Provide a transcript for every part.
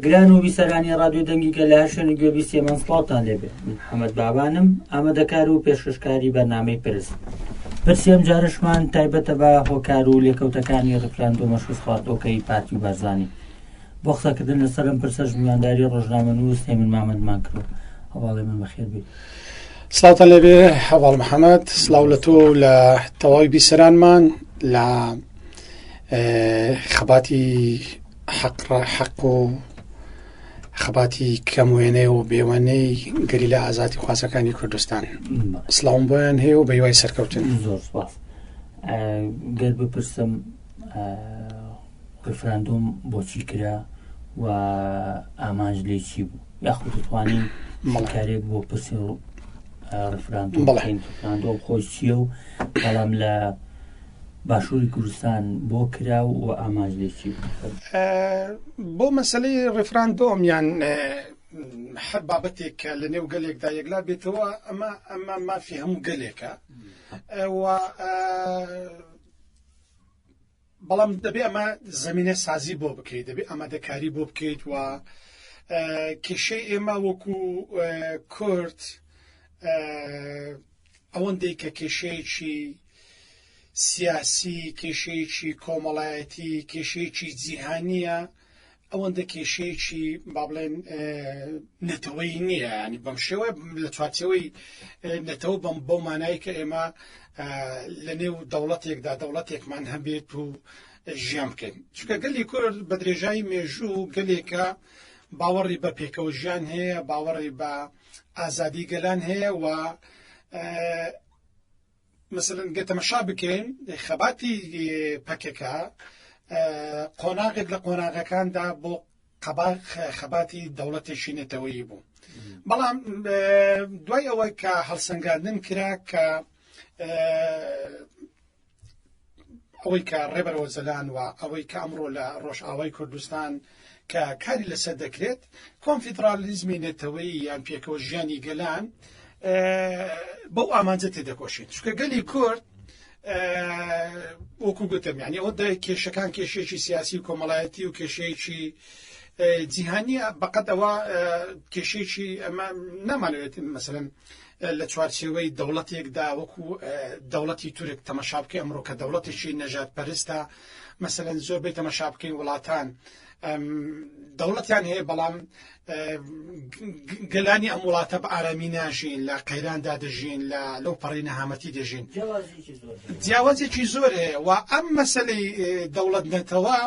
گران و بیسەرانی ڕادیو دەنگیکە لە هەر شوێن گوێبی سێمان سڵاوتان لێبێ من حەمەد بابانم ئامادەکار و پێشکەشکاری بەرنمەی پرس پرسیێم جارشمان تایبەتە بە هۆکار و لێکەوتەکانی ڕفراندۆمە شوزخواردۆکەی پارتی و بەرزانی بۆ قسەکردن لەسەر ئەم پرسەش میوانداری ڕۆژنامەنووس هێمن مامەندمان کرد و هەواڵێ من بەخێر بێت. سلااوان لەبێ هەواڵ محەممەد سلااو لە تۆ لە تەواوی بیسەرانمان لە خەباتی حەق حەق و خەباتی کەم وێنەی و بێوەنەی گەری لە ئازادی خوازەکانی کوردستان سلااوم بۆیان هەیە و بەیوای سەرکەوتن زۆر سپاس گەر بپرسم ڕفراندۆم بۆچی کرا و ئامانج لی چی بوو یاخود دەتوانین مەڵکارێک بۆ پرسی ڕفراندۆم بڵین ڕفراندۆم خۆش چییە و بەڵام لە باشووری کوردستان بۆ کرا و ئامانج لی چی بۆ مەسلەی ڕفراندۆم یان هەر بابەتێک کە لە نێو گەلێکدا یەکلا بێتەوە ئەمە ئەمە مافی هەموو گەلێکە و بەڵام دەبێ ئەمە زمینە سازی بۆ بکەیت دەبێ ئامادەکاری بۆ بکەیت و کێشەی ئێمە وەکو کورد ئەوەندەی کە کێشەیەکی سیاسی کێشەیەکی کۆمەڵایەتی کێشەیەکی جیهانیە ئەوەندە کێشەیەکی با بڵێن نەتەوەی نییە ینی بەم شێوە لە چوارچەوەی نەتەوە بەم بەو مانایی کە ئێمە لە نێو دەوڵەتێکدا دەوڵەتێکمان هەبێت و ژیان بکەین چکە گەلی کورد بە درێژایی مێژوو گەلێکە باوەڕی بە پێکەوە ژیان هەیە باوەڕی بە ئازادی گەلان هەیە و مەسەلەن گەر تەمەشا بکەین خەباتی پەکەکە قۆناغێک لە قۆناغەکاندا بۆ قەباق خەباتی دەوڵەتێکی نەتەوەیی بوو بەڵام دوای ئەوەی کە هەڵسەنگاندن کرا کە ئەوەی کە ڕێبەر ئۆجەلان و ئەوەی کە ئەمڕۆ لە ڕۆژئاوای کوردستان کە کاری لەسەر دەکرێت کۆنفیدرالیزمی نەتەوەیی یان پێکەوە ژیانی گەلان بەو ئامانجە تێدەکۆشێت چکە گەلی کورد وەکو گوتم یعنی ئەو دای کێشەکان کێشێکی سیاسی و کۆمەڵایەتی و کێشەیەکی جیهانیە بەقەتەوە کێشێکی ئەمە نامانوێت مەسەن لە چوارچێوەی دەوڵەتێکدا وەکو دەوڵەتی تورک تەمەشا بکەی ئەمڕۆ کە دەوڵەتێکی نەژاد پەرستە مەسەن زۆر بی تەمەشا بکەین وڵاتان دەوڵەتیان هەیە بەڵام گەلانی ئەم وڵاتە بە ئارامی ناژین لە قەیراندا دەژین لە لەو پەڕی نەهامەتی دەژین جیاوازێکی زۆر هەیە و ئەم مەسلەی دەوڵەت نەتەوە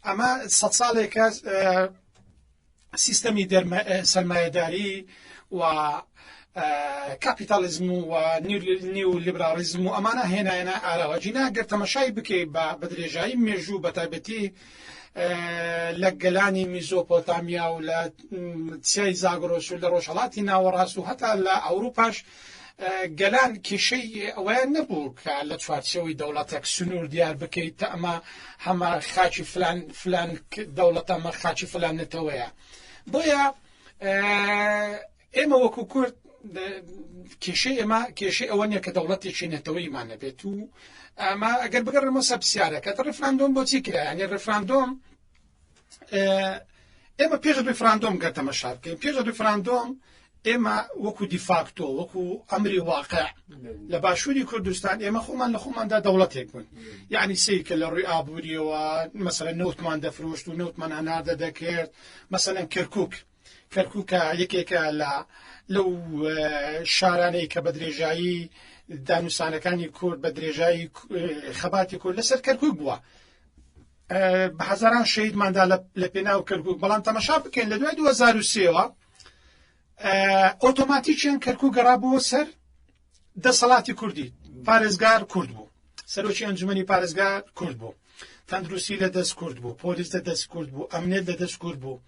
ئەمە سە ساڵێکە سیستەمی سەرمایەداری و کاپیتالیزم و نیو لیبراڵیزم و ئەمانە هێنایەنە ئاراوە جینا گەر تەمەشای بکەی بە بەدرێژایی مێژوو بە تایبەتی لە گەلانی میزۆپۆتامیا و لە سیای زاگرۆس و لە ڕۆژهڵاتی ناوەڕاست و هەتا لە ئەوروپاش گەلان کێشەی ئەوەیان نەبوو کە لە چوارچەوەی دەوڵەتێک سنوور دیار بکەیت تا ئەمە هەمە خاچی فلان فلان دەوڵەتەمە خاچی فلان نەتەوەیە بۆیە ئێمە وەکو کورد کێشەی ئێمە کێشەی ئەوە نیە کە دەوڵەتێکی نەتەوەیمانە بێت و ئەمە ئەگەر بگەڕێمە سەپسیارەکە ڕفراندۆم بۆچی کرایانی ڕفراندۆم ئێمە پێش ریفراندۆم گەر تەمەشا بکەین پێش ریفراندۆم ئێمە وەکو دیفاکتۆ وەکو ئەمری واقع لە باشووری کوردستان ئێمە خۆمان لە خۆماندا دەوڵەتێک بوون یعنی سیکە لە ڕووی ئابوووریەوە مەسەر نەوتمان دەفرۆشت و نەوتمان هەناردە دەکرد مەسەن کەرکک کەرکووک یەکێکە لە لەو شارانەی کە بە درێژایی دانوسانەکانی کورد بە درێژایی خەباتی کورد لەسەر کەرکووک بووە بە هەزاران شەیدماندا لە پێناو کەرکووک بەڵام تەمەشا بکەین لە دوای 2023ەوە ئۆتۆماتیکیان کەرکوو گەڕا بۆ سەر دەسەڵاتی کوردی پارێزگار کورد بوو سەرۆکی ئەنجومەنی پارێزگار کورد بوو تەندروستی لە دەست کورد بوو پۆلیس لە دەست کورد بوو ئەمنێت لە دەست کورد بوو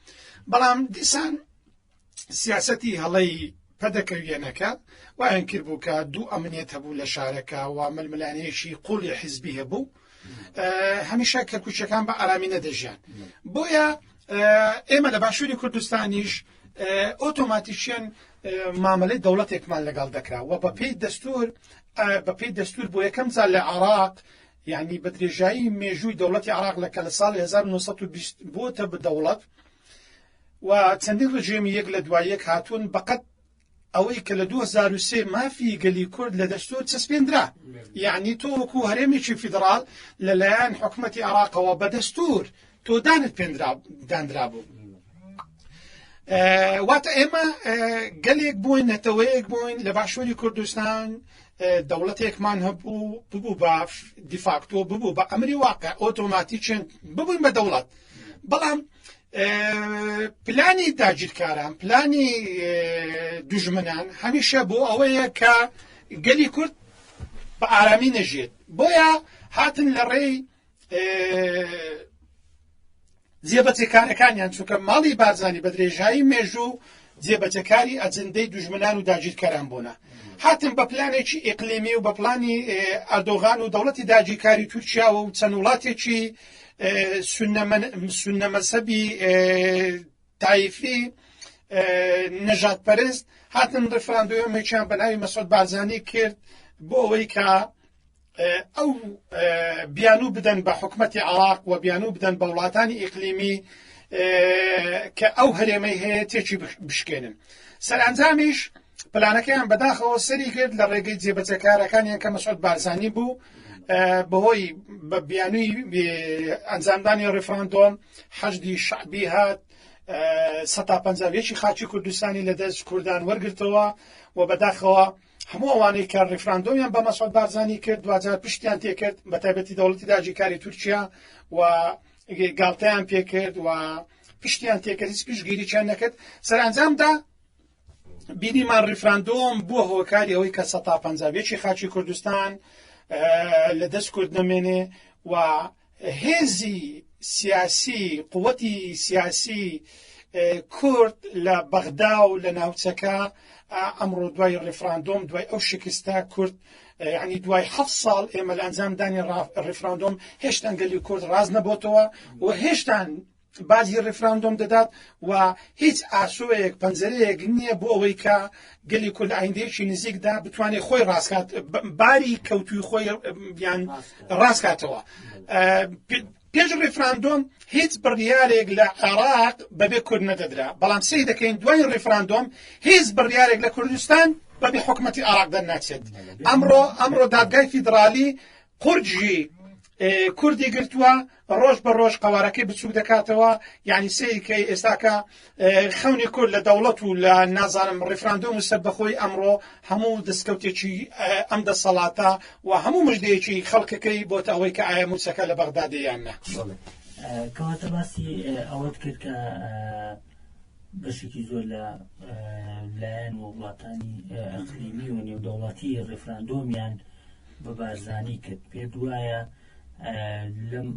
بەڵام دیسان سیاستی هەڵەی پەدەکەویەنەکە وایان کرد بوو کە دوو ئەمنێت هەبوو لە شارەکە و ململانەیەکی قوڵی حیزبی هەبوو هەمیشە کەرکوچەکان بە ئارامی نەدەژیان بۆیە ئێمە لە باشووری کوردستانیش ئۆتۆماتیشیان مامەلەی دەوڵەتێکمان لەگەڵ دەکرا و بە پێی دەستور بە پێی دەستور بۆ یەکەم زار لە عراق یعنی بە درێژایی مێژووی دەوڵەتی عراق لە کە لە ساڵ 1920 بۆتە بدەوڵەت و چەندین ڕژێمی یەک لە دوای یەک هاتوون بەقەت ئەوەی کە لە دوو هەزار و سێ مافی گەلی کورد لە دەستور چەسپێندرا یەعنی تۆ وەکو هەرێمێکی فیدڕاڵ لە لایەن حکومەتی عێڕاقەوە بە دەستور تۆ دانت پێندرا داندرابوو واتە ئێمە گەلێک بووین نەتەوەیەک بووین لە باشووری کوردستان دەوڵەتێکمان هەبوو ببوو بە دیفاکتۆ ببوو بە ئەمری واقع ئۆتۆماتیکێن ببووین بە دەوڵەت بەڵام پلانی داگیرکاران پلانی دوژمنان هەمیشە بۆ ئەوەیە کە گەلی کورد بە ئارامی نەژێت بۆیە هاتن لە ڕێی جێبەچێکارەکانیان چونکە ماڵی بارزانانی بە درێژایی مێژوو جێ بەجێ کاری ئەجندەی دوژمنان و داگیرکەران بوونە هاتن بە پلانێکی ئیقلیمی و بە پلانی ئەردۆغان و دەوڵەتی داگیرکاری تورکیاوە و چەند وڵاتێکی سنەمەسەبی تایفی نەژات پەرست هاتن ڕفراندۆمێکیان بە ناوی مەسۆد بارزانانی کرد بۆ ئەوەی کە ئەو بیانوو بدەن بە حکومەتی عراق و بیانوو بدەن بە وڵاتانی ئیقلیمی کە ئەو هەرێمەی هەیە تێکی بشکێنن سەرئەنجامیش پلانەکەیان بەداخەوە سەری کرد لە ڕێگەی جێبەجەکارەکانیان کە مەسعود بارزانانی بوو بەهۆی بە بیانووی ئەنجامدانی ڕفراندۆم حەشدی شعبی هات سە پنجێکی خاچی کوردستانی لە دەست کوردان وەرگتەوە و بەداخەوە هەموو ئەوانەی کە ڕیفراندۆمیان بە مەسعود بارزانی کرد دواجار پشتیان تێکرد بە تایبەتی دەوڵەتی داگیرکاری تورکیا و گاڵتەیان پێکرد و پشتیان تێکرد هیچ پشگیرییان نەکرد سەرانجامدا بینیمان ڕیفراندۆم بووە هۆکاری ئەوەی کە سە پنجابێکی خاچی کوردستان لە دەست کورد نەمێنێ و هێزی سیاسی، قوتی سیاسی کورد لە بەغدا و لە ناوچەکە ئەمڕۆ دوای ڕیفراندۆم دوای ئەو شکستە کورد ینی دوای ح ساڵ ئێمە لە ئەنجامدانی ڕیفراندۆم هێشتان گەلی کورد ڕاز نەبتەوە و هێشتان باجی ڕیفراندۆم دەدات و هیچ ئاسۆیەک پەنجەرەیەک نییە بۆ ئەوەی کە گەلی کورد لە ئایندەیەکی نزیکدا بتوانێت خۆی ڕاستکات باری کەوتوی خۆی بیان ڕاستکاتەوە پێش ڕیفراندۆم هیچ بڕیارێک لە عێراق بەبێ کورد نەدەدرا بەڵام سی دەکەین دوای ڕیفراندۆم هیچ بڕیارێک لە کوردستان بەبێ حکوومەتتی عراق دەرناچێت ئەمڕۆ ئەمڕۆ دادگای فیدراالی قورجی کوردی گرتووە ڕۆژ بە ڕۆژ قەوارەکەی بچوک دەکاتەوە یعنی سەیری کە ئێستاکە خەونی کورد لە دەوڵەت و لە نازانم ڕیفراندۆم و سەربەخۆی ئەمڕۆ هەموو دەستکەوتێکی ئەم دەسەڵاتە و هەموو مژدەیەکی خەڵکەکەی بۆتە ئەوەی کە ئایا موچەکە لە بەغدادیان نە کەواتە باسی ئەوەت کرد کە بەشێکی زۆر لە لایەن و وڵاتانی ئەقلیمی و نێودەوڵاتی ڕێفراندۆمیان بە بارزانانی کرد پێ دوایە لەم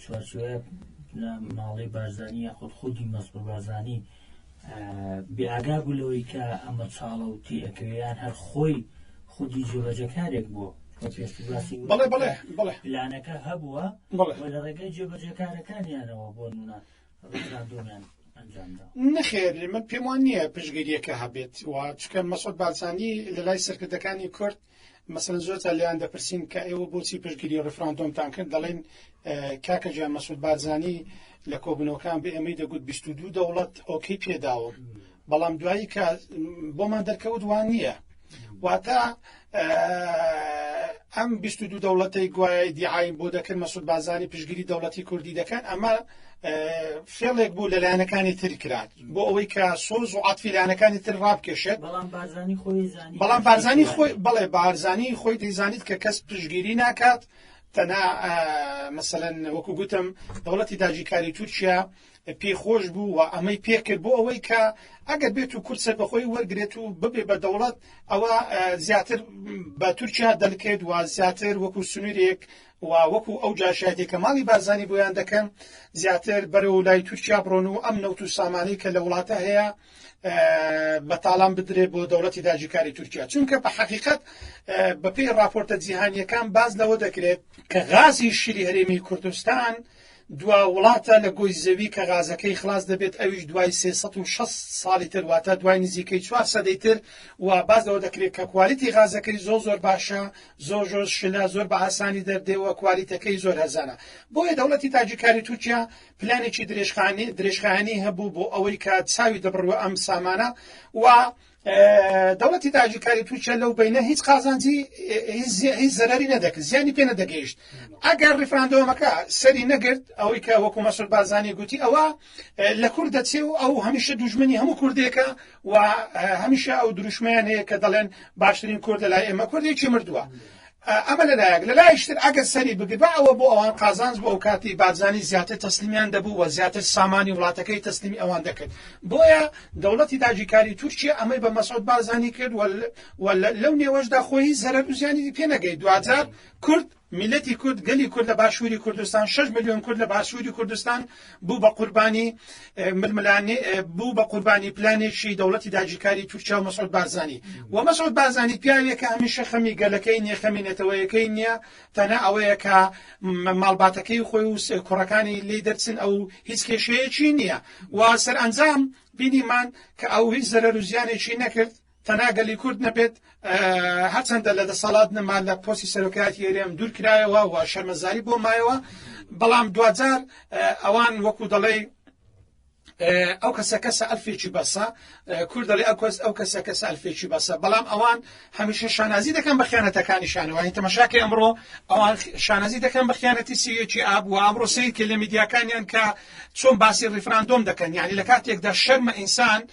چوارچێوەیە ماڵی بارزانی یاخود خودی مەسرور بارزانی بێئاگا بوو لەوەی کە ئەمە چاڵە و تێئەکەوێیان هەر خۆی خودی جێبەجەکارێک بووە بڵێ بڵێ بڵێ پلانەکە هەبووە لە ڕێگەی جێبەجەکارەکانیانەوە بۆ نمونە ڕفراندۆمیان نەخێر من پێم وان نییە پشگیریەکە هەبێت و چکە مەسۆت بارزانانی لە لای سەرکردەکانی کورد مەسەلەن زۆر جار لێیان دەپرسین کە ئێوە بۆچی پشتگیری ڕیفراندۆمتان کرد دەڵێن کاکە گیان مەسود بارزانی لە کۆبنەوەکان بە ئێمەی دەگوت 22 دەوڵەت ئۆکەی پێداوم بەڵام دوایی کە بۆمان دەرکەوت وان نییە واتە ئەم 22 دەوڵەتی گوایە دیعایم بۆ دەکرد مەسود بازانی پشگیری دەوڵەتی کوردی دەکەن ئەمە فێڵێک بوو لە لایەنەکانی تر کرات بۆ ئەوەی کە سۆز و عاتفی لایەنەکانی تر ڕابکێشێت بەڵام بارزانی خۆی زانی بەڵام بارزانی خۆی بەڵێ بارزانی خۆی دەیزانیت کە کەس پشگیری ناکات تەنا مەسەن وەکو گوتم دەوڵەتی داجیکاری تورکیا پێی خۆش بوو و ئەمەی پێکرد بۆ ئەوەی کە ئەگەر بێت و کورسەر بەخۆی وەرگێت و ببێ بە دەوڵەت ئەوە زیاتر بە تورکیا دەلکێت و زیاتر وەکو سنوورێک و وەکو ئەو جاشایەتەی کە ماڵی بارزانی بۆیان دەکەن زیاتر بەرەو لای تورکیا بڕۆن و ئەم نەوت و سامانەی کە لە وڵاتە هەیە بە تاڵان بدرێت بۆ دەوڵەتی داجیکاری تورکیا چونکە بە حقیقت بەپی راپۆرتە جیهانیەکان باز لەوە دەکرێت کە غازی شیری هەرێمی کوردستان دوا وڵاتە لە گۆی زەوی کە غازەکەی خلاس دەبێت ئەویش دوای سێ سەد و شەست ساڵی تر واتە دوای نزیکەی چوار سەدەی تر و باس لەوە دەکرێت کە کوالیتی غازەکەی زۆر زۆر باشە زۆر زۆر شلە زۆر بە ئاسانی دەردێوە کوالیتەکەی زۆر هەرزانە بۆیە دەوڵەتی تاجیکاری تورکیا پلانێکی درێژخانی درێژخایەنی هەبوو بۆ ئەوەی کە چاوی دەبڕوە ئەم سامانە و دەوڵەتی داگیرکاری تورکیا لەو بینە هیچ قازانجی هیچ زەرری نەدەکرد زیانی پێ نەدەگەیشت ئەگەر ڕیفراندۆمەکە سەری نەگرت ئەوەی کە وەکو مەسول بارزانانی گوتی ئەوە لە کورد دەچێ و ئەو هەمیشە دوژمنی هەموو کوردێکە و هەمیشە ئەو دروشمیان هەیە کە دەڵێن باشترین کورد لە لای ئێمە کوردێکی مردووە ئەمە لە لایەک، لە لایەکی تر ئەگەر سەری بگربا ئەوە بۆ ئەوان قازانج بوو، ئەوکاتی بارزانی زیاتر تەسلیمیان دەبوو و زیاتر سامانی وڵاتەکەی تەسلیمی ئەوان دەکرد، بۆیە دەوڵەتی داگیرکاری تورکیە ئەمەی بە مەسعود بارزانی کرد و لەو نێوەشدا خۆی هیچ زەرەر و زیانی پێ نەگەیشت، دواجار کورد، میللەتی کورد، گەلی کورد لە باشووری کوردستان، شەش ملیۆن کورد لە باشووری کوردستان، بوو بە قوربانی ململانێ بوو بە قوربانی پلانێکی دەوڵەتی داگیرکاری تورکیا و مەسعود بارزانی و مەسعود بارزانی پیاوێکە هەمیشە خەمی گەلەکەی نییە خەمی نەتەوەیەکەی نییە تەنها ئەوەیە کە ماڵباتەکەی خۆی و کوڕەکانی لی دەرچن ئەو هیچ کێشەیەکی نییە و سەرئەنجام بینیمان کە ئەو هیچ زەرەر و زیانێکی نەکرد تەنها گەلی کورد نەبێت هەرچەندە لە دەسەڵات نەما لە پۆسی سەرۆکایەتی ئێرێم دوور کرایەوە و شەرمەزاری بۆ مایەوە بەڵام دوجار ئەوان وەکو دەڵێ ئەو کەسە کەسە ئەلفێکی بەسە کورد دەڵێ ئەو کەس ئەو کەسە کەسە ئەلفێکی بەسە بەڵام ئەوان هەمیشە شانازی دەکەن بە خیانەتەکانی شانەوەی تەمەشاکە ئەمڕۆ ئەوان شانازی دەکەن بە خیانەتی سیەکی ئاب و ئامڕۆ سیرکە لە میدیاکانیان کە چۆن باسی ڕیفراندۆم دەکەن یعنی لە کاتێکدا شەرمە ئینسان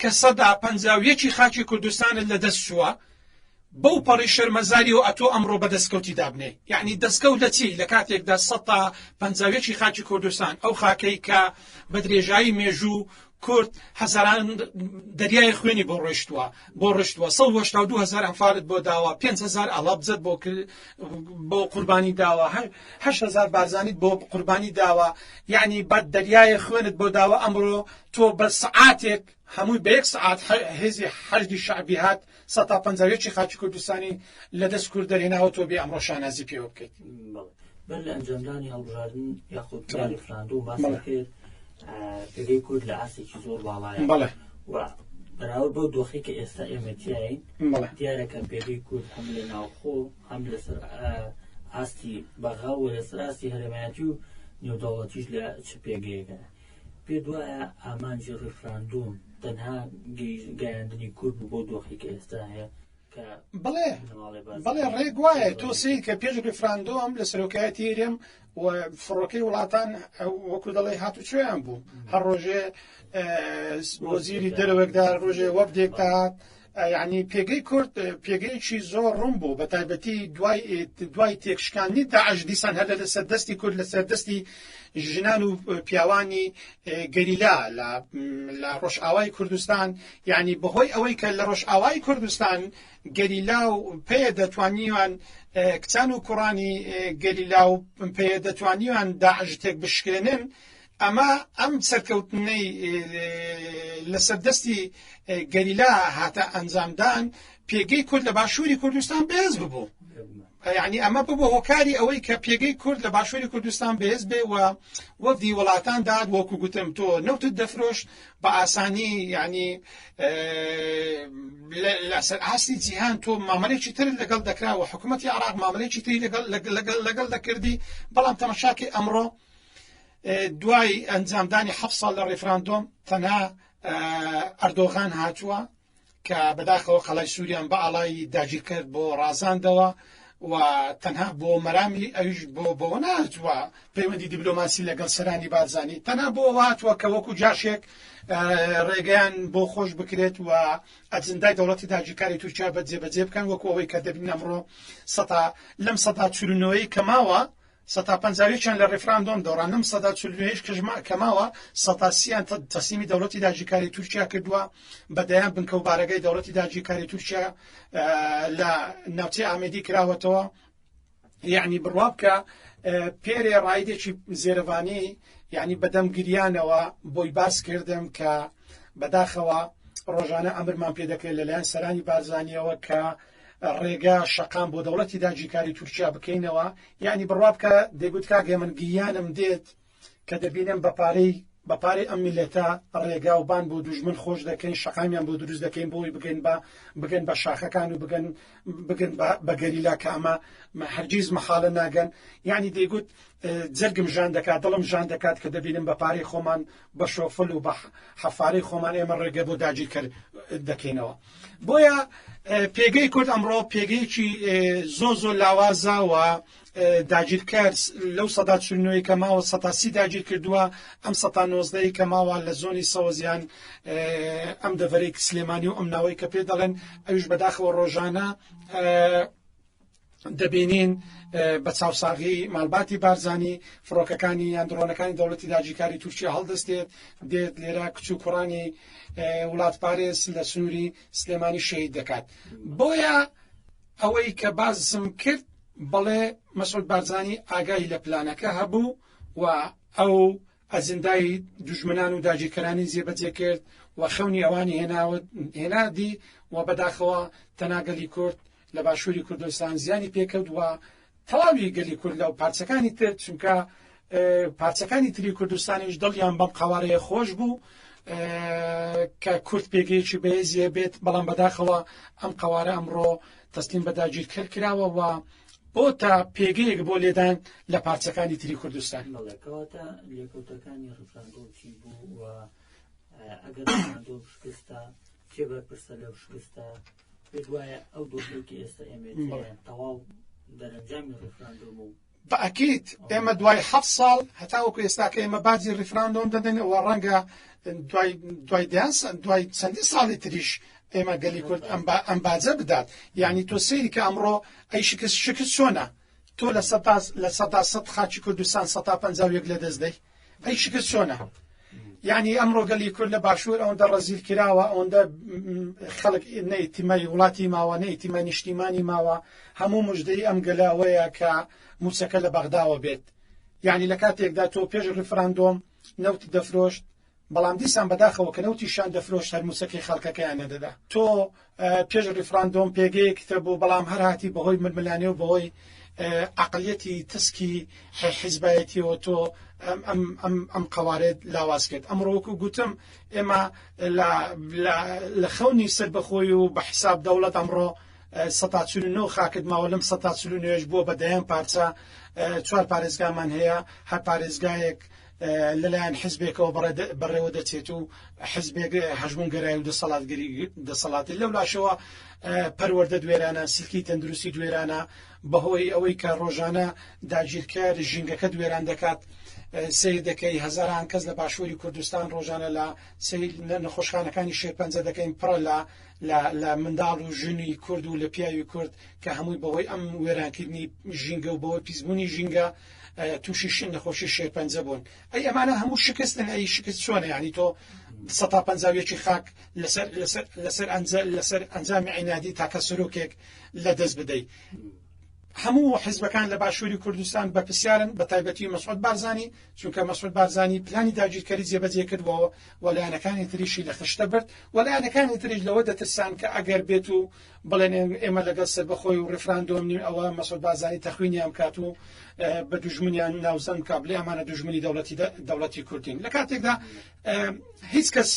کە سەدا پەنجا و یەکی خاکی کوردستانت لە دەست چووە بەو پەڕی شەرمەزاریەوە ئەتۆ ئەمڕۆ بە دەستکەوتی دابنێی یەعنی دەستکەوت لە چی لە کاتێکدا سەتا پەنجا و یەکی خاکی کوردستان ئەو خاکەی کە بە درێژایی مێژوو کورد هەزاران دەریای خوێنی بۆ ڕۆشتووە بۆ ڕشتووە 1970 هزار ئەمفالت بۆ داوە 5هزار ئەڵابزت بۆ بۆ قوربانی داوە هەهزار بارزانیت بۆ قوربانی داوە یعنی بەد دەریایە خوێنت بۆ داوە ئەمڕۆ تۆ بە سەعاتێک هەمووی بە یەک سەعات هێزی حەشدی شەعبی هات سەد تا پەنجا و یەکی خاکی کوردستانی لە دەست کورد دەرهێناوە تۆ بێ ئەمڕۆ شانازی پێوە بکەیت. بەر لە ئەنجامدانی هەڵبژاردن یاخود ریفراندۆم باس دەکرێت پێگەی کورد لە ئاستێکی زۆر باڵایە بەڵێ و بەراورد بەو دۆخی کە ئێستا ئێمە تیاین بەڵێ دیارە کە پێگەی کورد هەم لە ناوخۆ هەم لەسەر ئاستی بەغا و لەسەر ئاستی هەرێمایەتی و نێودەوڵەتیش لە چ پێگەیەکە پێت وایە ئامانجی ڕیفراندوم تەنها گەیاندنی کورد بوو بەو دۆخەی کە ئێستا هەیە کە بەڵێ بنەماڵەی بەڵێ بەڵێ بارزانی ڕێک وایە تۆ تێکەڵەیەک سەیر کە پێش ڕیفراندۆم لە سەرۆکایەتی هەرێم و فڕۆکەی وڵاتان وەکو دەڵێی هاتوچۆیان بوو هەر ڕۆژێ اه، وەفدێک وەزیری دەهات دەرەوەک دا ڕۆژێ وەفدێک وەفدێک دەهات دەهات یەعنی پێگەی کورد پێگەیەکی زۆر ڕوون بوو بە تایبەتی دوای دوای تێکشکاندنی داعش دیسان هەر لەسەر دەستی کورد لەسەر دەستی ژنان و پیاوانی گەریلا لە ڕۆژئاوای کوردستان یعنی بەهۆی ئەوەی کە لە ڕۆژئاوای کوردستان گەریلا و پێ دەتوانیوان کچان و کوڕانی گەریلا و پێ دەتوانیوان داعش تێک بشکێنن ئەمە ئەم سەرکەوتنەی لەسەر دەستی گەریلا هاتە ئەنجامدان پێگەی کورد لە باشووری کوردستان بەهێز ببوو یعنی ئەمە ببوو هۆکاری ئەوەی کە پێگەی کورد لە باشووری کوردستان بەهێز بێ و وەفدی وڵاتان داد وەکو گوتم تۆ نەوتت دەفرۆشت بە ئاسانی یعنی لەسەر ئاستی جیهان تۆ مامەلێکی تر لەگەڵ دەکرا و حکوومەتتی عراق مامەلێکی تری لەگەڵ لەگەڵ لەگەڵ دەکردی بەڵام تەمەشاکی ئەمڕۆ دوای ئەنجامدانی حەف ساڵ لە ڕیفراندۆم تەنها ئەردۆغان هاتووە کە بەداخەوە قەڵای سووریان بە ئاڵای داگیرکرد بۆ ڕازاندەوە و تەنها بۆ مەرامی ئەویش بۆ بۆ ناتوە پەیوەندی دیبلۆماسی لەگەڵ سەرانی بارزانانی تەنها بۆ واتوە کە وەکو جاشێک ڕێگەیان بۆ خۆش بکرێت و ئەجندای دەوڵەتی داگیرکاری تورکیا بە جێبەجێ بکەن وەکو ئەوەی کە دەبین ئەمڕۆ سەتا لەم سەدا چورنەوەی کەماوە سەتا پەنجا و یەکیان لە ڕیفراندۆم دۆڕانم، سەدا چل و هەشت کەش کە ماوە، سەتا سی یان تەسلیمی دەوڵەتی داگیرکاری تورکیا کردووە، بە دەیان بنکە و بارەگای دەوڵەتی داگیرکاری تورکیا لە ناوچەی ئامێدی کراوەتەوە. یەعنی بڕوا بکە پێرێ ڕایدێکی زێرەڤانی یەعنی بە دەم گریانەوە بۆی باس کردم کە بەداخەوە ڕۆژانە ئەمرمان پێ دەکرێت لە لایەن سەرانی بارزانیەوە کە ڕێگا شەقام بۆ دەوڵەتی داگیرکاری تورکیا بکەینەوە یانی بڕوا بکە دەگوت کاک هێمن گریانم دێت کە دەبینم بە پارەی بە پارەی ئەم میلەتە ڕێگا و بان بۆ دوژمن خۆش دەکەین شەقامیان بۆ دروست دەکەین بۆی بگەین بە بگەن بە شاخەکان و بگەن بگەن بە گەریلا کە ئەمە هەرگیز مەحاڵە ناگەن یعنی دەیگوت جەرگم ژان دەکات دڵم ژان دەکات کە دەبینم بە پارەی خۆمان بە شۆفل و بە حەفارەی خۆمان ئێمە ڕێگە بۆ داگیرکەر دەکەینەوە بۆیە پێگەی کورد ئەمڕۆ پێگەیەکی زۆ زۆ لاوازەوە داگیرکەر لەو سەدا چنوەی کە ماوە سەتاسی داگیر کردووە ئەم سەتا نۆزدەی کە ماوە لە زۆنی سەوەزیان ئەم دەڤەرێک سلێمانی و ئەم ناوەی کە پێ دەڵێن ئەوش بەداخەوە ڕۆژانە دەبینین بە چاوساغی ماڵباتی بارزانی فڕۆکەکانی یان دڕۆنەکانی دەوڵەتی داجیکاری تورکیا هەڵدەستێت دێت لێرە کچ و کوڕانی وڵات پارێز لە سنووری سلێمانی شەید دەکات بۆیە ئەوەی کە بازسم کرد بەڵێ مەسعود بارزانی ئاگای لە پلانەکە هەبوو و ئەو ئەزندای دژمنان و داگیرکەرانی جێبەجێ کرد و خەونی ئەوانی هێناوت هێنادی و بەداخەوە تەناگەلی کورد لە باشوری کوردستان زیانی پێکەوت و تەواوی گەلی کورد لەو پارچەکانی تر چونکە پارچەکانی تری کوردستانیش دڵیان بەم قوارەیە خۆش بوو کە کورد پێگەیەکی بەێزیە بێت بەڵام بەداخەوە ئەم قوارە ئەمڕۆ تەستیم بەداگیر کرد کراوە و بۆ تا پێگەیەک بۆ لێدان لە پارچەکانی تری کوردستان مەڵەکەواتە لێکوتەکانی ڕفراندۆچی بوو و ئەگەر شکستە کێ بەرپرسە لەو شکستە پێت وایە ئەو دۆخێکی ئێستا ئێمەیە تەواو دەرەنجامی ڕێفراندۆم و بەئەکید ئێمە دوای ح ساڵ هەتاوەکو ئێستاکە ئێمە باجی ڕیفراندۆم دەدەین و ڕەنگە دوای دوای دیان دوای چەندی ساڵی تریش ئێمە گەلی کورد ئەم باجە بدات یعنی تۆ سری کە ئەمڕۆ ئەی شکست شکست چۆنە تۆ لە سەپاس لە سەدا سەد خاچی کوردستان سە پ لە دەست دەی ئەی شکست چۆنە یعنی ئەمڕۆ گەلی کورد لە باشوور ئەوەندە ڕزیل کراوە ئەوەندە خەڵک نەیتیمای وڵاتی ماوە نەیتیمە نیشتیمانی ماوە هەموو مژدەی ئەم گەلاوەیە کە موچەکە لە بەغداوە بێت یعنی لە کاتێکدا تۆ پێش ڕفراندۆم نەوت دەفرۆشت بەڵام دیسان بەداخەوە کە نەوتی شان دەفرۆشت هەر مووچەکەی خەڵکەکەیان نەدەدا تۆ پێش ریفراندۆم پێگەیەکتە بوو بەڵام هەر هاتی بەهۆی ململانێ و بەهۆی عقلیەتی تسکی حیزبایەتیەوە تۆ ئەم قەوارێت لاواز کرد ئەمڕۆ وەکو گوتم ئێمە لە خەونی سەربەخۆی و بە حساب دەوڵەت ئەمڕۆ سەتا چون و نۆ خاکت ماوە لەم سەتا چلو نوێش بووە بە دەیان پارچە چوار پارێزگامان هەیە هەر پارێزگایەک لەلایەن حزبێکەوە بەڕێوە دەچێت و حزبێک هەژمونگەرای و دەسەڵاتگەری دەسەڵاتی لەو لاشەوە پەروەەردە دوێرانە سلکی تەندروستی دوێرانە بەهۆی ئەوەی کە ڕۆژانە داگیرکەر ژینگەکە دوێران دەکات سیر دەکەی هەزاران کەس لە باشووری کوردستان ڕۆژانە لە نەخۆشخانەکانی شێرپەنجە دەکەین پڕە لە لە منداڵ و ژنی کورد و لە پیاوی کورد کە هەمووی بەهۆی ئەم وێرانکردنی ژینگە و بەوەی پیسبوونی ژینگە و توشی شین نەخۆشی شێرپەنجە بوون ئەی ئەمانە هەموو شکستن ئەی شکست چۆنە ینی تۆ سەتا پەنجاویەکی خاک لەسەر لەسەر لەسەر ئەنجە لەسەر ئەنجامی عینادی تاکە سەرۆکێک لە دەست بدەیت هەموو حزبەکان لە باشووری کوردستان بە پرسیارن بە تایبەتی مەسعود بارزانانی چونکە مەسعود بارزانانی پلانی داگیرکەری جێبەجێ کردبەوە وەلایەنەکانی تریشی لە خشتە برد وەلایەنەکانی تریش لەوە دەترسان کە ئەگەر بێت و بڵێن ئێمە لەگەڵ سەربەخۆی و ڕیفراندۆم نین ئەوە مەسۆد بازانی تەخوینیان بکات و بە دوژمنیان ناوزەن کا بلێ ئەمانە دوژمنی دەوڵەتی دەوڵەتی کوردین لە کاتێکدا هیچ کەس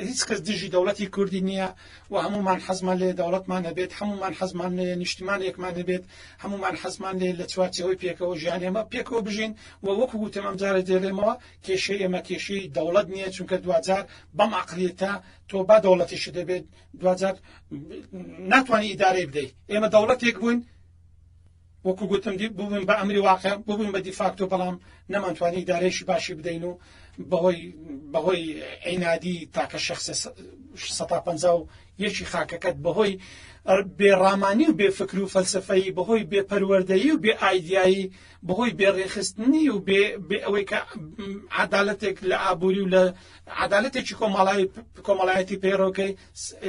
هیچ کەس دژی دەوڵەتی کوردی نییە و هەمومان حەزمان لێ دەوڵەتمان هەبێت هەمومان حەزمان لێ نیشتمان یەکمان هەبێت هەمومان حەزمان لێ لە چوارچەوەی پێکەوە ژیان ئێمە پێکەوە بژین و وەکو وتەمەم جارە دێڵێمەوە کێشەی ئێمە کێشەی دەوڵەت نییە چونکە دوجار بەم عقلێتە تۆ با دەوڵەتیش دەبێت دواجار ناتوانی ئیدارەی بدەیت ئێمە دەوڵەتێک بووین وەکو گوتم بووین بە ئەمری واقع ببووین بە دیفاکتۆ بەڵام نەمانتوانی ئیدارێکی باشی بدەین و بەهۆی بەهۆی عینادی تاکە شخص 150 و یەکی خاکەکەت بەهۆی بێڕامانی و بێفکر و فەلسفەی بەهۆی بێپەروەردەیی و بێ ئایدایی بەهۆی بێڕێخستنی و بێ ئەوەی کە عدالەتێک لە ئابووری و لە عەدالەتێکی کۆمەڵای کۆمەڵایەتی پەیڕەوکەی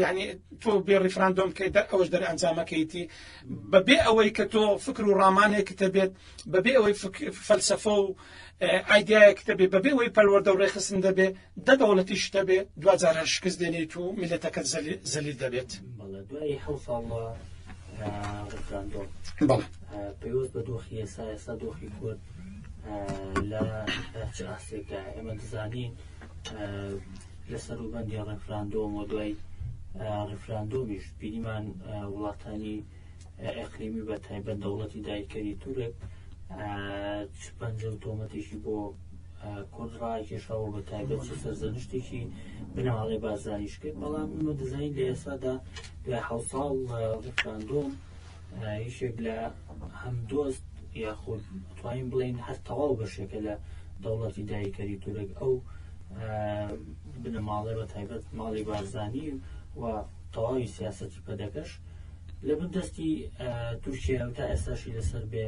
یعنی تۆ بێ ڕیفراندۆم کەی دەر ئەوەش دەر ئەنجامەکەیتی بەبێ ئەوەی کە تۆ فکر و ڕامانێکی دەبێت بەبێ ئەوەی فەلسەفە و ئایدایەک دەبێ بەبێ ئەوەی پەروەەردە و ڕێخستن دەبێ دە دەوڵەتیش دەبێ دوجار هەر شکست دێنیت و میلەتەکە زەلی دەبێت بەڵێ پێوەست بە دۆخی ئێسا ئێستا دۆخی کورد لە چ ئاستێکدا ئێمە دەزانین لە سەروبەندی ڕفراندۆم و دوای ڕفراندۆمیش بینیمان وڵاتانی ئەقلیمی بە تایبەت دەوڵەتی دایکەری تورک چ پەنجە و تۆمەتێکی بۆ کورد ڕاکێشەوە بە تایبەت چ سەرزەنشتێکی بناڵێ بازدانیش کرد بەڵام ئمە دەزانین لە ئێسادا دوای حوساڵ ڕفراندۆم یەکێک لە هەمدۆست یاخود توانین بڵێین هەر تەواو بەشێکە لە دەوڵەتی داگیرکەری تورک ئەو بنەماڵە بە تایبەت ماڵی بارزانی و تەواوی سیاستی پەدەکەش لە بن دەستی تورکیا و تا ئێستاشی لەسەر بێ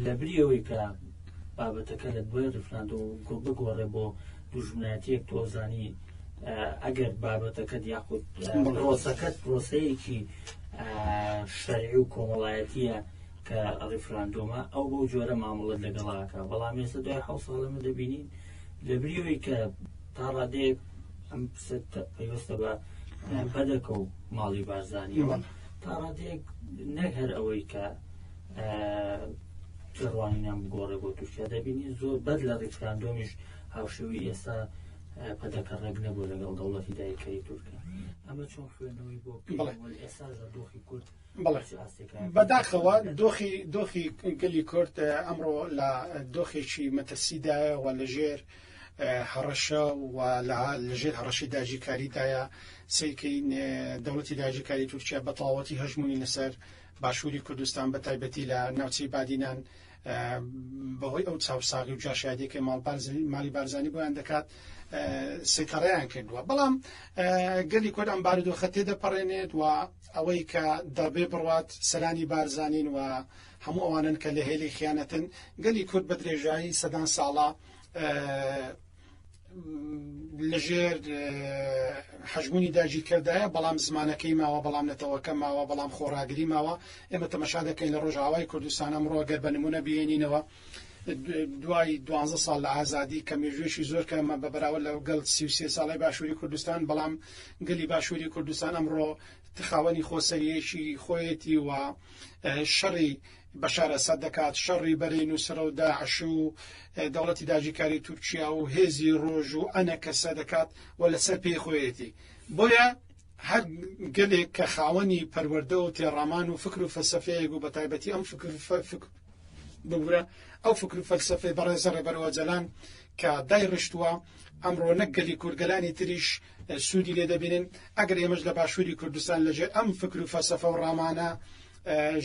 لە بریەوەی کە بابەتەکە لە دوای ریفراندۆ بگۆڕێ بۆ دوژمنایەتیەک تۆزانی ئەگەر بابەتەکەت یاخود پرۆسەکەت پرۆسەیەکی شەرعی و کۆمەڵایەتیە کە ڕیفراندۆمە ئەو بەو جۆرە مامەڵت لەگەڵاکە بەڵام ێستا دوای حە ساڵەمە دەبینین لەبریەوەی کە تا ڕادەیەک ئەم پێوەستە بە بەدەکە و ماڵی بارزانیەوە تا ڕادەیەک نەک هەر ئەوەی کە جڕوانیان بگۆڕێ بۆ تورکیا دەبینین زۆر بەر لە ڕیفراندۆمیش هاوشێوەی ئێستا پەدەکە ڕێک نەبوو لەگەڵ دەوڵەتی دایکەری تورکە ئەمە چۆن خوێندنەوەی بۆ ئێستا دۆخی کورد بەداخەوە دۆخی دۆخی گەلی کورد ئەمڕۆ لە دۆخێکی مەتەسیدایەوە لەژێر هەڕەشە و لەژێر هەڕەشی داژیکاریدایە سیکەی دەوڵەتی داژیکاری تورکیا بە تەواوەتی هەژمونی لەسەر باشووری کوردستان بە تایبەتی لە ناوچەی بادینان بەهۆی ئەو چاوساغی و جاشادیەکەی ماڵ بارزانی مالی بارزانی بۆیان دەکات سیتەڕیان کردووە بەڵام گەلی کورد ئەم بارودۆخە تێدەپەڕێنێت و ئەوەی کە دەڕبێ بڕات سەرانی بارزانین و هەموو ئەوانن کە لە هێلی خیانەتن گەلی کورد بە درێژایی سەدان ساڵە لەژێر حەژمونی داگیرکەردایە بەڵام زمانەکەی ماوە بەڵام نەتەوەکە ماوە بەڵام خۆڕاگری ماوە ئێمە تەمەشا دەکەین لە ڕۆژاوای کوردستان ئەمڕۆ گەر بە نمونە بێنینەوە دوای دوانزە ساڵ لە ئازادی کە مێژوێکی زۆر کەمە بە بەراوە لە گەڵ سیوسێ ساڵی باشووری کوردستان بەڵام گەلی باشووری کوردستان ئەمڕۆ تخاوەنی خۆسەریەکی خۆیەتی و شەڕی بەشار ئەسەد دەکات، شەڕی بەرەی نوسرە و داعش و دەوڵەتی داگیرکاری تورکیا و هێزی ڕۆژ و ئەنەکەسە دەکات و لەسەر پێی خۆیەتی. بۆیە هەر گەلێک کە خاوەنی پەروەردە و تێڕامان و فکر و فەلسەفەیەک و بەتایبەتی ئەم فکر ببورە ئەو فکر و فەلسەفەی بەڕێزە ڕێبەر ئۆجەلان کە دایڕشتووە، ئەمڕۆ نەک گەلی کورد گەلانی تریش سوودی لێ دەبینن، ئەگەر ئێمەش لە باشووری کوردستان لەژێر ئەم فکر و فەلسەفە و ڕامانە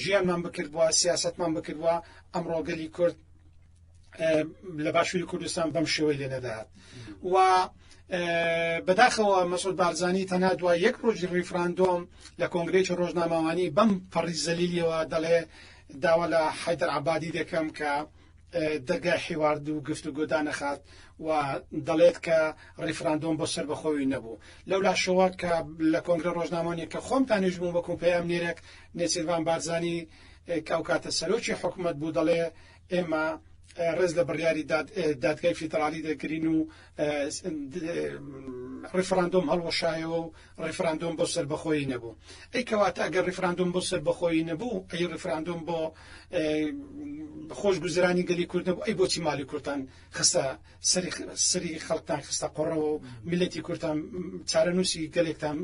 ژیانمان بکردبووە، سیاسەتمان بکردبووە، ئەمڕۆ گەلی کورد لە باشووری کوردستان بەم شێوەی لێ نەدەهات و بەداخەوە مەسود بارزانانی تەنا دوای یەک ڕۆژی ڕیفراندۆم لە کۆنگرێکی ڕۆژنامەوانی بەم پەڕی زەلیلیەوە دەڵێ داوا لە حیدر عبادی دەکەم کە دەرگای حیوارد و گفتوگۆ دانەخات و دەڵێت کە ڕیفراندۆم بۆ سەربەخۆوی نەبوو لەو لاشەوە کە لە کۆنگرە ڕۆژنامۆنی کە خۆم تانیش بوو بەکوم پەیام نێرەک نێچیربان بارزانانی کاو کاتە سەرۆکی حکوومەت بوو دەڵێ ئێمە ڕێز لە بڕیاری دادگای فیدراالی دەگرین و ڕفراندۆم هەڵوەشایەوە و ڕیفراندۆم بۆ سەربەخۆیی نەبوو ئەی کەواتە ئەگەر ڕیفراندۆم بۆ سەربەخۆیی نەبوو ئەی ڕیفراندۆم بۆ خۆش گوزرانی گەلی کورد نەبوو ئەی بۆچی مالی کورتان خستە سەری سەری خەڵکتان خستە قۆڕەوە و ملەتی کورتان چارەنووسی گەلێکتان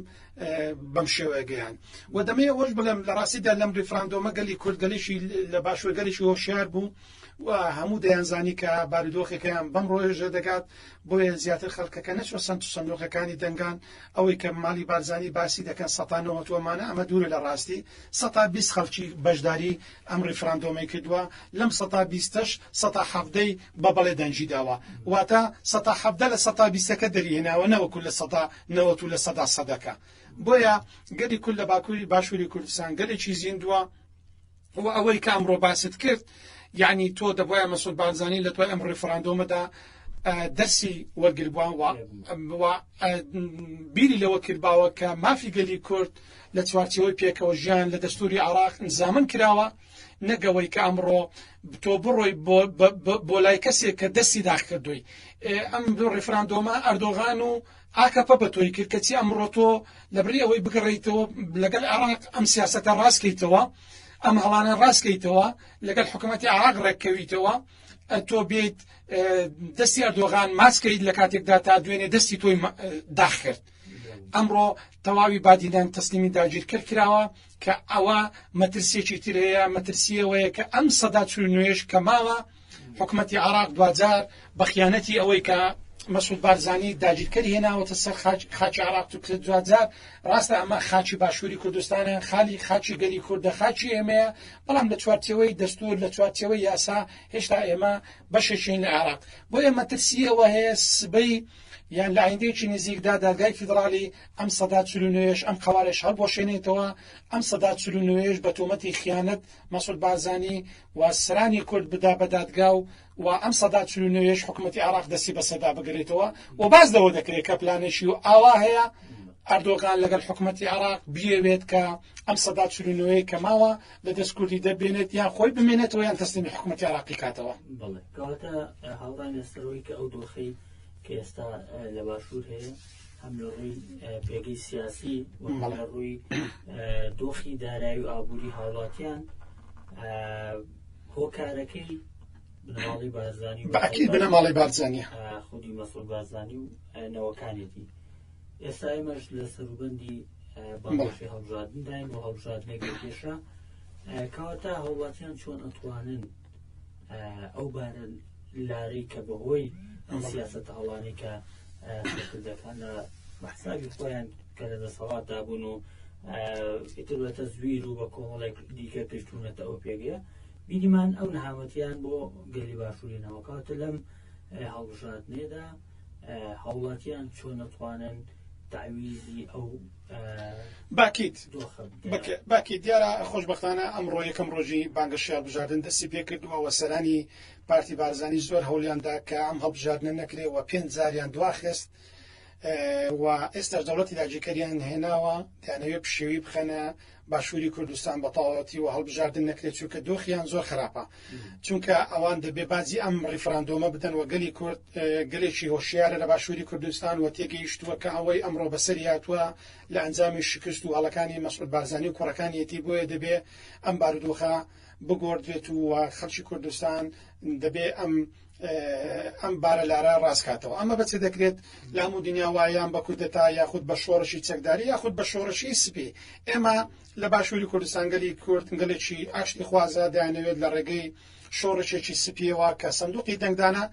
بەم شێوەیە گەیان و دەمەیە وەش بڵێم لە ڕاستیدا لەم ڕیفراندۆمە گەلی کورد گەلێکی لە باشوەگەلێکی هۆشیار بوو و هەموو دەیانزانی کە بارودۆخەکەیان بەم ڕۆژە دەگات بۆیە زیاتر خەڵکەکە نەچوە سنت و سندۆقەکانی دەنگان ئەوەی کە ماڵی بارزانی باسی دەکەن سەتا نەوەت وەمانە ئەمە دوورە لە ڕاستی سەتا بیست خەڵکی بەشداری ئەم ڕیفراندۆمەی کردوە لەم سەتا بیستەش سەتا حەڤدە ی بە بەڵێ دەنگی داوە واتە سەتا حەڤدە لە سەتا بیستەکە دەری هێناوە نەوەکو لە سەتا نەوەت و لە سەدا سەدەکە بۆیە گەلی کورد لە باکوری باشوری کوردستان گەلێکی زیندوە وە ئەوەی کە ئەمڕۆ باست کرد یانی تۆ دەبوایە مەسود بارزانانی لە دوای ئەم ڕیفراندۆمەدا دەرسی وەرگربووان وە بیری لەوە کردباوە کە مافی گەلی کورد لە چوارچەوەی پێکەوە ژیان لە دەستوری عراق زامن کراوە نەگەوەی کە ئەمڕۆ تۆ بڕۆی بۆ لای کەسێک کە دەستی داخکردووی ئەم دوو ڕیفراندۆمە ئەردۆغان و ئاکەپە بە تۆی کرد کەچی ئەمڕۆ تۆ لەبری ئەوەی بگەڕێیتەوە لەگەل عێراق ئەم سیاسەتە ڕاست کەیتەوە ئەم هەڵانە ڕاست کەیتەوە لەگەل حکومەتی عێراق ڕێک کەویتەوە تۆ بێیت دەستی ئەردۆغان ماچ کەیت لە کاتێکدا تا دوێنێ دەستی تۆی داخ کرد ئەمڕۆ تەواوی بادینان تەسلیمی داگیرکەر کراوە کە ئەوە مەترسیەکی تر هەیە مەترسیەوەیە کە ئەم سەدا چ نوێش کە ماوە حکومەتی عێراق دواجار بە خیانەتی ئەوەی کە مەسعود بارزانی داگیرکەری هێناوەتە سەر خاکی عێراق توکرێت دواجار ڕاستە ئەمە خاکی باشووری کوردستانە خالی خاکی گەلی کوردە خاکی ئێمەیە بەڵام لە چوارچەوەی دەستور لە چوارچەوەی یاسا هێشتا ئێمە بەشێکین لە عێراق بۆ ئێمە ترسی ئەوە هەیە سبەی یان لە ئایندەیەکی نزیکدا دادگای فیدراالی ئەم سەدا چلوێش ئەم قوارێش هەڵبۆشێنێتەوە ئەم سەدا چلوێش بە تۆمەتی خیانەت مەسود بارزانانی و سرانی کورد بدا بە دادگا و و ئەم سەدا چل و نۆ یەش حکومەتی عێراق دەستی بە سەدا بگرێتەوە و باس لەوە دەکرێت کە پلانێکی ئاوا هەیە ئەردۆغان لەگەڵ حکومەتی عێراق بیەوێت کە ئەم سەدا چل و نۆ یەی کە ماوە لە دەست کوردی دەبێنێت یان خۆی بمێنێتەوە یان تەسلیمی حکومەتی عێراقی کاتەوە بەڵێ کەواتە هاوڕای نەستەرۆی کە ئەو دۆخەی کە ئێستا لە باشوور هەیە هەم لە ڕووی پێگەی سیاسی و هەم لە ڕووی دۆخی دارایی و ئابووری هاوڵاتیان هۆکارەکەی بنەماڵی بارزانی و بەعکی بنەماڵی بارزانانی خودی مەسول بارزانی و نەوەکانێتی ئێستا ئێمەش لە سەروبەندی بەڵاشی هەڵبژاردنداین و هەڵبژاردنێک کێشە کەواتە هەوڵاتیان چۆن ئەتوانن ئەو بارە لارەی کە بەهۆی ئەم سیاستە هەڵانی کە کوردەکان لە بەحسابی خۆیان کە لە دەسەڵاتدا بوون و ئیتر بە تەزویر و بە کۆمەڵێک دیکە پێشتونەتە ئەو پێگەیە بیریمان ئەو نەهامەتیان بۆ گەلی باشووری ناوکاتە لەم هەڵبژاتنێدا هەوڵاتیان چۆن نەتوانن تەعویزی ئەو باکیت باکی دیارە خۆشببختانە ئەمڕۆ یەکەم ڕۆژی بانگەشی هەڵبژاردن دەستی پێکردووە و سەرانی پارتی بارزانانی زۆر هەولیاندا کە ئەم هەڵبژاردنە نەکرێ و پێنج زاریان دواخست و ئێستا دەوڵەتی داگیرکەریان هێناوە دەیانەوێت پشێوی بخەنە باشوری کوردستان بەتەواوەتی وە هەڵبژاردن نەکرێت چونکە دۆخیان زۆر خراپە چونکە ئەوان دەبێ بازی ئەم ڕیفراندۆمە بدەن وە گەلی کورد گەلێکی هۆشیارە لە باشوری کوردستان وە تێگەیشتووە کە ئەوەی ئەمڕۆ بەسەری هاتووە لە ئەنجامی شکست و هەڵەکانی مەسعود بارزانانی و کوڕەکانیەتی بۆیە دەبێ ئەم بارودۆخە بگۆردرێت و خەڵکی کوردستان دەبێ ئەم ئەم بارە لارە ڕاستکاتەوە ئەمە بەچێ دەکرێت لام و دنیا وایان بە کودەتا یاخود بە شۆڕشی چەکداری یاخود بە شۆڕشی سپی ئێمە لە باشووری کوردستانگەلی کوردگەلێکی ئاشتی خوازە دایانەوێت لە ڕێگەی شۆڕشێکی سپیەوە کە سندوقی دەنگدانە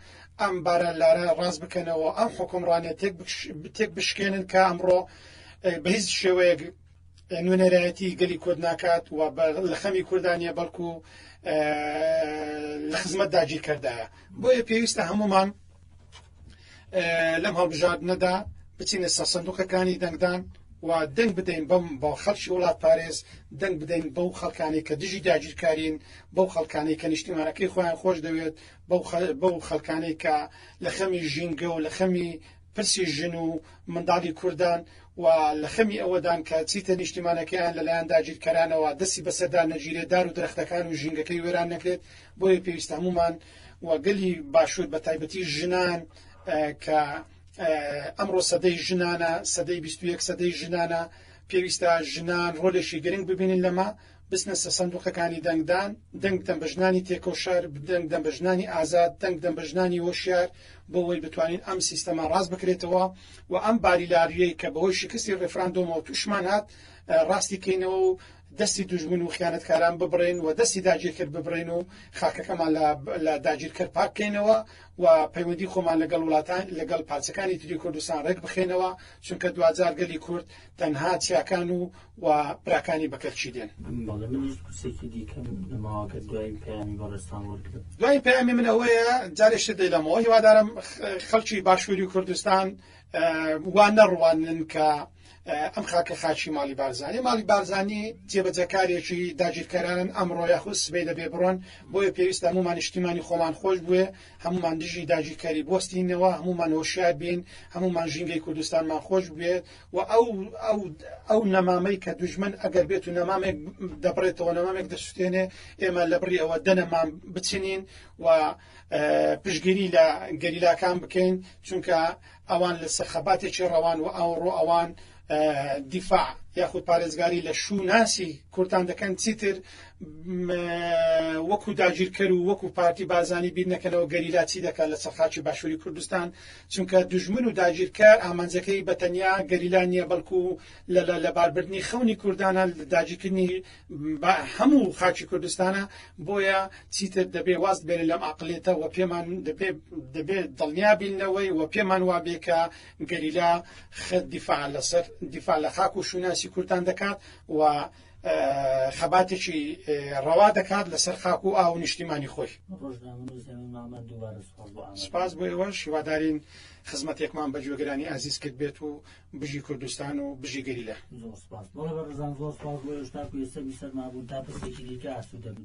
ئەم بارە لارە ڕاست بکەنەوە ئەم حکومڕانێت تێک بشکێنن کە ئەمڕۆ بە هیچ شێوەیەک نوێنەرایەتی گەلی کورد ناکات و لە خەمی کوردا نیە بەڵکو لە خزمەت داگیرکەردایە بۆیە پێویستە هەمومان لەم هەڵبژاردنەدا بچینە سەر سندوقەکانی دەنگدان و دەنگ بدەین بەم بە خەڵکی وڵات پارێز دەنگ بدەین بەو خەڵکانی کە دژی داگیرکارین بەو خەڵکانی کە نیشتیمانەکەی خۆیان خۆش دەوێت بەو خەڵکانی کە لە خەمی ژینگە و لە خەمی پرسی ژن و منداڵی کوردان و لە خەمی ئەوەدان کە چیتە نیشتیمانەکەیان لە لایەن داگیرکەرانەوە دەستی بەسەردا نەگیرێت، دار و درەختەکان و ژینگەکەی وێران نەکرێت، بۆیە پێویستە هەموومان و گەلی باشوور بە تایبەتی ژنان کە ئەمڕۆ سەدەی ژنانە، سەدەی بیست و یەک سەدەی ژنانە، پێویستە ژنان ڕۆلێکی گرنگ ببینن لەمە بچنە سەر سەندوقەکانی دەنگ دان، دەنگ دەن بە ژنانی تێکەو شار، دەنگ دەن بە ژنانی ئازاد، دەنگ دەن بە ژنانی هۆشیار، بۆ وەی بتوانین ئەم سیستەمە ڕاست بکرێتەوە و ئەم باریلاریەی کە بەهۆی شکستی ڕێفراندۆمەوە توشمان هات ڕاستی کەینەوە و دەستی دوژمن و خیانەتکاران ببڕێن و دەستی داگیرکەر ببڕێن و خاکەکەمان لە داگیرکەر پاک کەینەوە و پەیوەندی خۆمان لەگەڵ وڵاتان لەگەڵ پارچەکانی تری کوردستان ڕێک بخەینەوە چونکە دواجار گەلی کورد تەنها چیاکان و و براکانی بە کەرچی دێن. بەڵێ منیش پرسێکی دیکەم نەماوە گەر دوایین پەیامی بەڕێزتان وەرگرم. دوایین پەیامی من ئەوەیە جارێ شت دەیڵێمەوە هیوادارم خەڵکی باشووری کوردستان وا نەڕوانن کە ئەم خاکە خاچی ماڵی بارزانانی ماڵی بارزانانی جێبەجەکارێکی داگیرکەرانن ئەمڕۆ یاخود سبەی دەبێ بڕۆن بۆیە پێویستە هەمومان نیشتیمانی خۆمان خۆش بوێ هەمومان دژی داگیرکەری بستینەوە هەمومان هۆشیار بین هەمومان ژینگەی کوردستانمان خۆش بێت و ئەو ئەو ئەو نەمامەی کە دوژمن ئەگەر بێت و نەمامێک دەبڕێتەوە نەمامێک دەسوتێنێ ئێمە لە بڕی ئەوە دەنەمام بچنین و پشگیری لە گەریلاکان بکەین چونکە ئەوان لە سەرخەباتێکی ڕەوان و ئەوڕۆ ئەوان دیفاع یاخود پارێزگاری لە شووناسی کوردان دەکەن چیتر وەکو داگیرکەر و وەکو پارتی بازانی بیرنەکەنەوە گەریلا چی دەکات لە سەرخاچی باشووری کوردستان چونکە دوژمن و داگیرکەر ئامانجەکەی بە تەنیا گەریلا نییە بەڵکو لە لە لەباربردنی خەونی کوردانە لە داگیرکردنی بە هەموو خاکی کوردستانە بۆیە چیتر دەبێ واز بێنە لەم ئەقڵێتە وە پێمان دەبێ دەبێ دڵنیا بین لەوەی وە پێمان وابێ کە گەریلا خە دیفاع لەسەر دیفاع لە خاک و شوناسی کوردان دەکات وە خەباتێکی ڕەوا دەکات لەسەر خاک و ئاو نیشتیمانی خۆی سپاس بۆ ئێوە شیوادارین خزمەتێکمان بە جوێگرانی ئازیز کرد بێت و بژی کوردستان و بژی گەری لە سەرمابوون تا پرسێکی دیکە ئاسو دەبن.